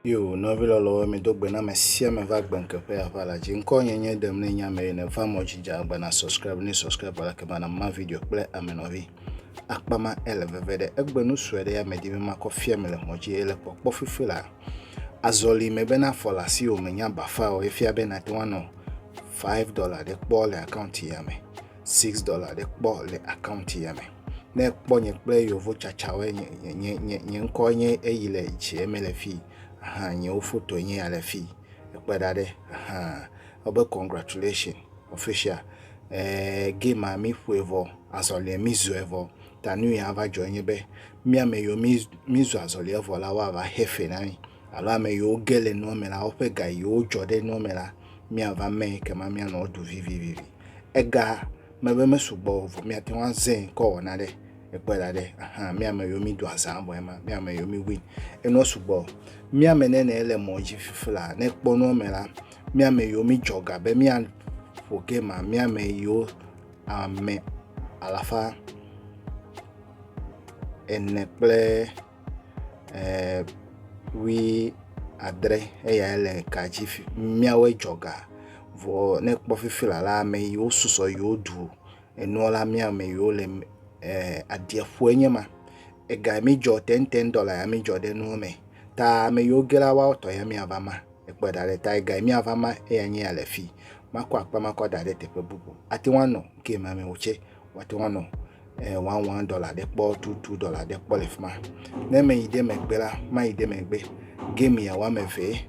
Yo, nɔvi lɔlɔwo, mido gbe na ame sia ame va gbe ŋkeƒe aʋa la dzi. Ŋkɔ nye nye ɖem ne nye ame ene va mɔ dzi dza agba na subscribe ne subscribe la ke bana ma video kple ame nɔvi. Akpa ma ele veve ɖe egbe nu sue ɖe ya me di be makɔ fia me le mɔ dzi ele kpɔkpɔ fifi la. Azɔli me be ne afɔ le asiwò me nye abafa o, efia be nàte ŋu anɔ five dɔla ɖe kpɔ le akaunti ya me, six dɔla ɖe kpɔ le akaunti ya me. Ne ekpɔ nye kple yeovo tsatsawoe, nye, nye, nye, nye, nye ŋkɔ nye eyi le dzie me le fii. Aha, nyewo fotoe nye ya le fii. Ekpe ɖa ɖe. Aha. Wobe congratulations, official. Ɛɛ, game a mí ƒoe vɔ. Azɔliɛ mí zɔɛ vɔ. Ta nui ava dzɔe nye be, mía ame yiwo mízu azɔli evɔ la, woava xe fe na mí, alo ame yiwo ge le nua me la, woƒe ga yiwo dzɔ ɖe nua me la, míava mee ekema míanɔ wo ɖu vivivi. Ega me be mesugbɔ o vɔ míate ŋu azẽ kɔ wɔ nane. Ekpɔe ɖa ɖe, ahan, mía ame yiwo mído azã vɔe ma, mía ame yiwo míwui. Enua sugbɔ. Mía ame nɛnɛ le mɔ dzi fifila, ne ekpɔ nua me la, mía ame yiwo mídzɔ ga be míaƒo game, mía ame yiwo ame alafa ene kple wui adre eyae le ka dzi fi míawoe dzɔ ga vɔ ne ekpɔ fifi la la ame yiwo susɔ yiwo ɖu enuɔ la mía ame yiwo le e aɖieƒue nye ma. Ega mi dzɔ tɛntɛn dɔ la ya mi dzɔ ɖe nuwo me ta ame yiwo ge la woawo tɔ ya miava ma. Ekplɔ da ɖe ta egae miava ma eya nye ya le fi makɔ akpa makɔ da ɖe teƒe bubu ate ŋu anɔ ke ma me wotse wate ŋu anɔ eh, wan wan dɔla ɖe kpɔ tu tu dɔla ɖe kpɔ le fi ma ne me yi ɖe megbe la ma yi ɖe megbe game ya wa me vee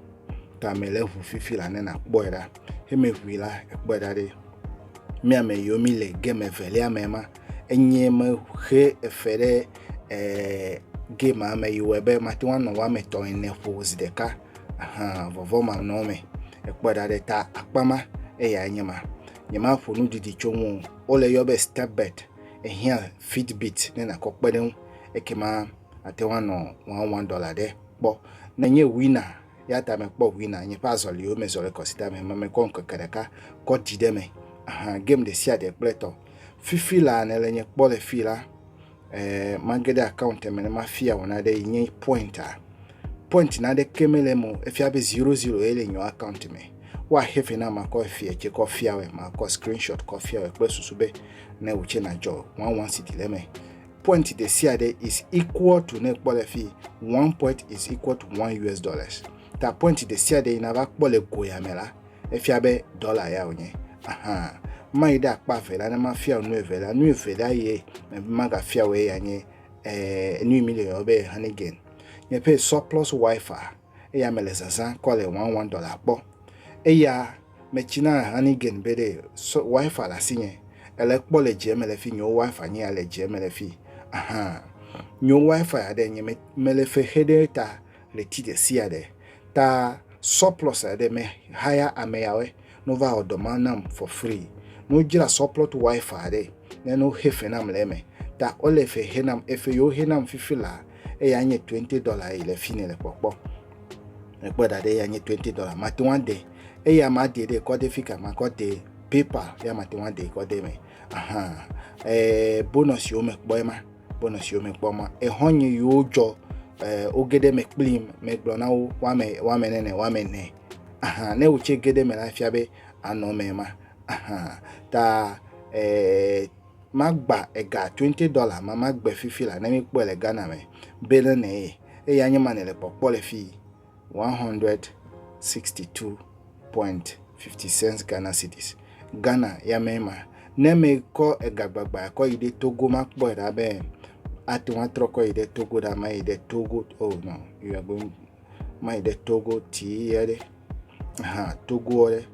ta me le ʋu fifi la ne na kpɔe ɖa he me ʋui la ekpɔe ɖa ɖe mi ame yiwo mi le game evelia me ma enye me xe efe ɖe eh, game ame yiwo ebe mate ŋu anɔ wa me tɔ ene ƒo zi ɖeka Ahan vɔvɔ̃manɔme ekpɔe ɖa ɖe ta akpa ma eyae nye ma. Nyemaƒo nu didi tso eŋu o. Wole yɔ be Stepbird. Ehiã Fitbit ne nàkɔ kpe ɖe eŋu ekema àte ŋu anɔ wɔawɔadɔla aɖe kpɔ. Menye wina ya ta mekpɔ wina nye ƒe azɔliwo me zɔlikɔsida me ema mekɔ ŋkeke ɖeka kɔ ɖi ɖe eme. Ahan game ɖesiaɖe kple etɔ. Fifi laa nèle nye kpɔ le fii la, eh, mage ɖe account me ne mafia wò naɖe yi nye point a point naɖeke mele eme o efia be zero zero ye le nyɔ account me woaxe fe na makɔ efia tse kɔ fia wɛ makɔ screenshot kɔ fia wɛ kple susu be ne wò tse nadzɔ one one city le eme point ɖe sia ɖe is equal to ne kpɔ le fi one point is equal to one us dollars ta point ɖe sia ɖe yi nava kpɔ le goya me la efia be dɔla ya wònye ahan mayi ɖe akpa evelia ne mafia nu evelia nu evelia ye magafia wòye ya nye eh, nu mi le yɔ be hanigen nye ƒe surplus wifi eya mele zazã kɔ le one one dɔla kpɔ eya metsina hanigen be ɖe so wifi le asi nye ele kpɔ le dze mele fi nyewo wifi nye ya le dze mele fi ahan nyewo wifi aɖe nye mele fe xe ɖe ta Ɣleti ɖesiaɖe ta surplus aɖe me haya ameyawe no va wɔ dɔ ma nam for free. No dzra surplus wife aɖe ne no xe fe nam le eme. Ta ole fe xe nam efe yo xe nam fifi la eya nye twenty dollar eyi le fini le kpɔkpɔ. Me kpɔ ɖaɖe eya nye twenty dollar ma te ŋua de eya ma de ɖe kɔ de fika ma kɔ de PayPal ya ma te ŋua de kɔ de me. Ahan eh bonus yo me kpɔ ema. Bɔnɔ siwo me kpɔ ma, exɔ nye yiwo dzɔ eh, wo geɖe me kplim, megblɔ na wo woame woame nene woame ne. Aha, ne wotse geɖe me la fia be anɔ me ma. Aha, ta eh, magba ega 20 dollar ma magbe fifi la ne mi kpɔe le Ghana me be ne ne ye. Eya nye ma ne le kpɔkpɔ le fii. 162.50 Ghana cedis. Ghana ya mee ma. Ne ame kɔ ega gbagba kɔ yi ɖe Togo ma kpɔe ɖa be ate ŋu atrɔ kɔ yi ɖe Togo ɖa ma yi ɖe Togo oh no you are going ma yi ɖe Togo tii ya ɖe ha Togo ɖe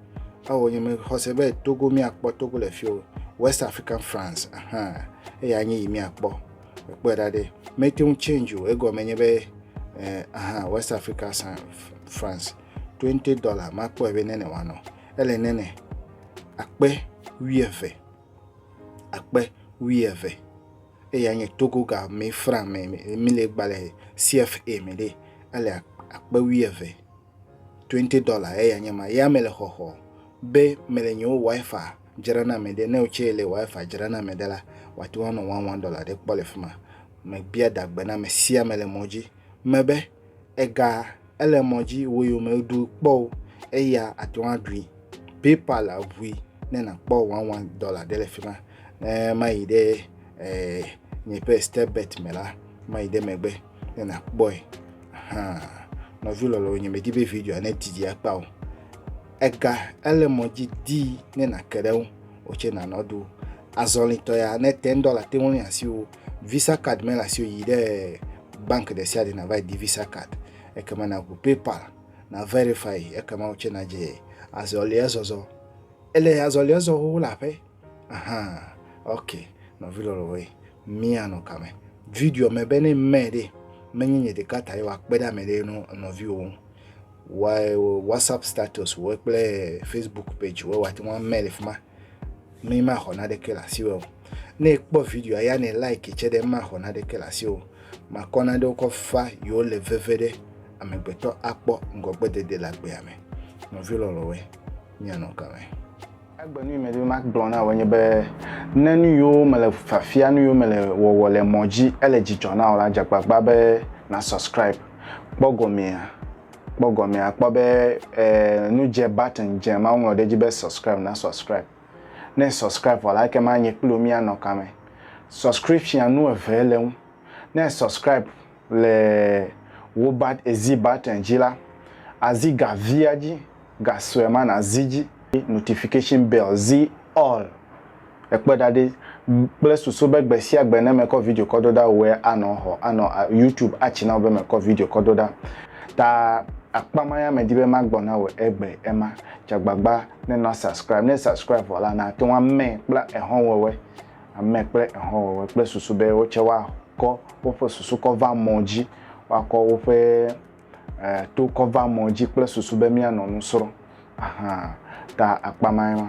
awo nye me xɔse be Togo miakpɔ Togo le fi o West African France aha eya nye yi miakpɔ. Kpɔe ɖa ɖe, mete ŋu change o. Egɔme nye be, eh, aha, West Africa san France, 20 dollar, makpɔe be nene wanɔ. Ele nene, akpe wuieve, akpe wuieve. Eya nye Togo ga me franc me, mi le gbalẽ CFA me ɖe, ele akpe wuieve. 20 dɔla eye anye ma ya mele xɔxɔ be mele nyewo wifi dzra na ame ɖe ne wotse le wifi dzra na ame ɖe la wòate ŋu anɔ one one dɔla ɖe kpɔ le fi ma mebia dagbe na ame sia ame le mɔ dzi mebe ega ele mɔ dzi wo yi me ɖu kpɔ o eya ate ŋu aɖui paypal aʋui ne nakpɔ one one dɔla ɖe le fi ma ne mayi ɖe eh, nye ƒe step bet me la mayi ɖe megbe ne nakpɔe hã nɔvi lɔlɔwo nye medi be video ne didi akpa o ega ele mɔ dzi di ne nake ɖe ŋu wotse nanɔ ɖo azɔlitɔ ya ne ten dɔla te ŋu asi wo visa card mele asi wo yi ɖe bank ɖe sia ɖe nava di visa card ekema naku paypal na verify ekema wotse nadze azɔlia zɔzɔ Ele azɔlia zɔ xoxo le aƒe. Ahan. Ok, nɔvi lɔlɔwoe, míanɔ kame. Videoa me be ne mɛ ɖe, menye nye ɖeka tae woakpe ɖe ame ɖe nɔ nɔviwo ŋu. Wa WhatsApp status wɔ kple Facebook page wɔ wate ŋu amɛ le fi ma. Mi maxɔ naɖeke le asiwò o. Ne ekpɔ videoa ya ne like tse ɖe maxɔ naɖeke le asiwò. Makɔ naɖewo kɔ fa yewo le veve ɖe amegbetɔ akpɔ ŋgɔgbedede le agbea me. Nɔvi lɔlɔwoe. míanɔ ke me. Egbe nu yi medi be magblɔ na wò nye be ne nu yiwo mele fiafia, nu yiwo mele wɔwɔ le mɔ dzi ele dzidzɔ na wò la, dze agbagba be na subscribe. Kpɔ gɔmea, kpɔ gɔmea, kpɔ be e, nu dze button dze ma woŋlɔ ɖe edzi be subscribe na subscribe. Ne subscribe vɔ la, ekema nye kpli wò míanɔ kame. Subscription nu eve le eŋu. Ne subscribe le Wobat Ezi Button dzi la, azi ga via dzi, ga sue ma nazi dzi. Notification Bell, zi All, ekpe ɖa ɖi kple susu be gbe sia gbe ne mekɔ video kɔ do ɖa wòe anɔ xɔ, anɔ YouTube atsi na wò be mekɔ video kɔ do ɖa. Ta akpa ma ya medi be magbɔ na wò egbe ema. Tsa gbagba ne na subscribe. Ne subscribe vɔ la, nàte ŋu ame kple exɔnwɔwɔe. Ame kple ehɔwɔwɔe kple susu be wo tsɛ woakɔ woƒe susu kɔ va mɔ dzi, woakɔ woƒe to kɔ va mɔ dzi kple susu be míanɔ nu srɔ̃. Ahan, ta akpa mae ma.